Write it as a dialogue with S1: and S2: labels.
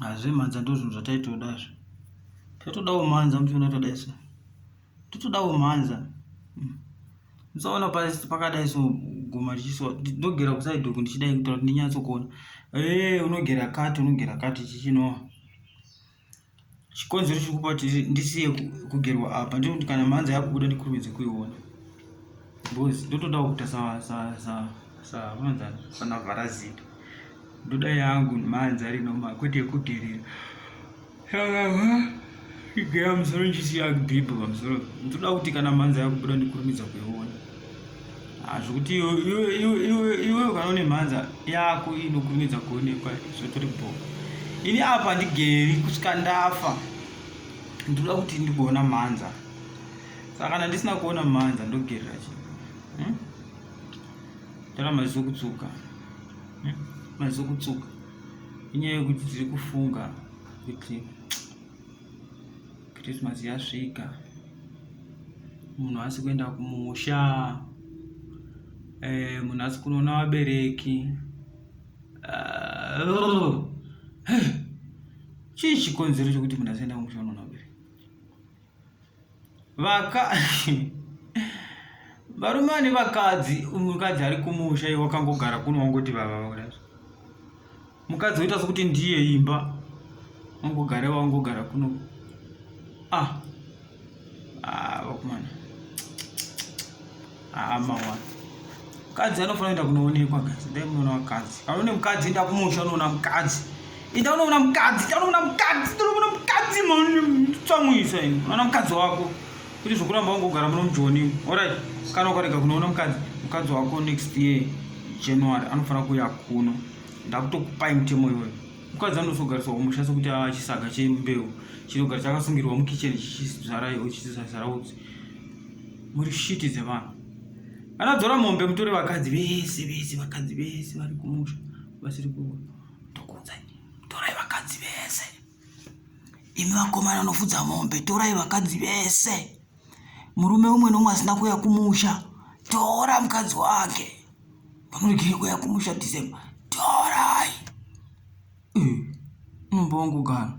S1: Hazve mhanza ndozvinhu zvataitoda zve. Taitodawo mhanza muchiona tadai so. Totodawo mhanza. Hmm. Musaona pakadai so guma richiswa ndogera kuside uku ndichidai kuita kuti ndinyatsokuona. Eh unogera kati unogera kati chichinoa. chikonzero chiri kupa kuti ndisiye kugerwa apa ndiri kuti kana mhanza yakubuda ndikurumidze kuiona because ndotodawo kuita savanzani sana vharazita ndoda yangu mhanza ari normal kwete yekugerera igera musoro ndichisiya bhibho pamusoro ndoda kuti kana mhanza yakubuda ndikurumidza kuiona zvekuti iwe ukanone mhanza yako inokurumidza kuonekwa zvotori bho ini apa ndigeri kusvika ndafa ndinoda kuti ndigoona mhanza saka kana ndisina kuona mhanza ndogerera chi hmm? tara maziso kutsuka hmm? maziso kutsuka inyaya yekuti tiri kufunga kuti Christmas yasvika munhu asi kuenda kumusha eh, munhu asi kunoona vabereki uh, chii chikonzero chokuti munhu asienda kumusha unoona vabereki vaka varume vane vakadzi mukadzi ari kumusha iwe wakangogara kuno wangoti vavaura mukadzi woita sokuti ndiye imba wangogara iwe wangogara kuno ah ah vakomana haa mawa mukadzi anofanira kuenda kunoonekwa guys ndai munoona vakadzi kana une mukadzi enda kumusha unoona mukadzi enda unoona mukadzi enda unoona mukadzi enda unoona mukadzi tsamwisa ini unoona mukadzi wako kuti zvokuramba wangogara muno mujoni orit kana ukarega kunoona mukadzi mukadzi wako next year january anofanira kuuya kuno ndakutokupai mutemo iwoyo mukadzi anozogariswa kumusha sekuti ava chisaga chembeu chinogara chakasungirwa mukitchen chichizvara iwo chichizvara utsi muri shiti dzevanhu anadzora mombe mutore vakadzi vese vese vakadzi vese vari kumusha vasiri kuva ndokuudzai torai vakadzi vese imi vakomana anofudza mombe torai vakadzi vese murume umwe nomwe asina kuuya kumusha tora mukadzi wake pamuregere kuuya kumusha december torai unomba wangu gana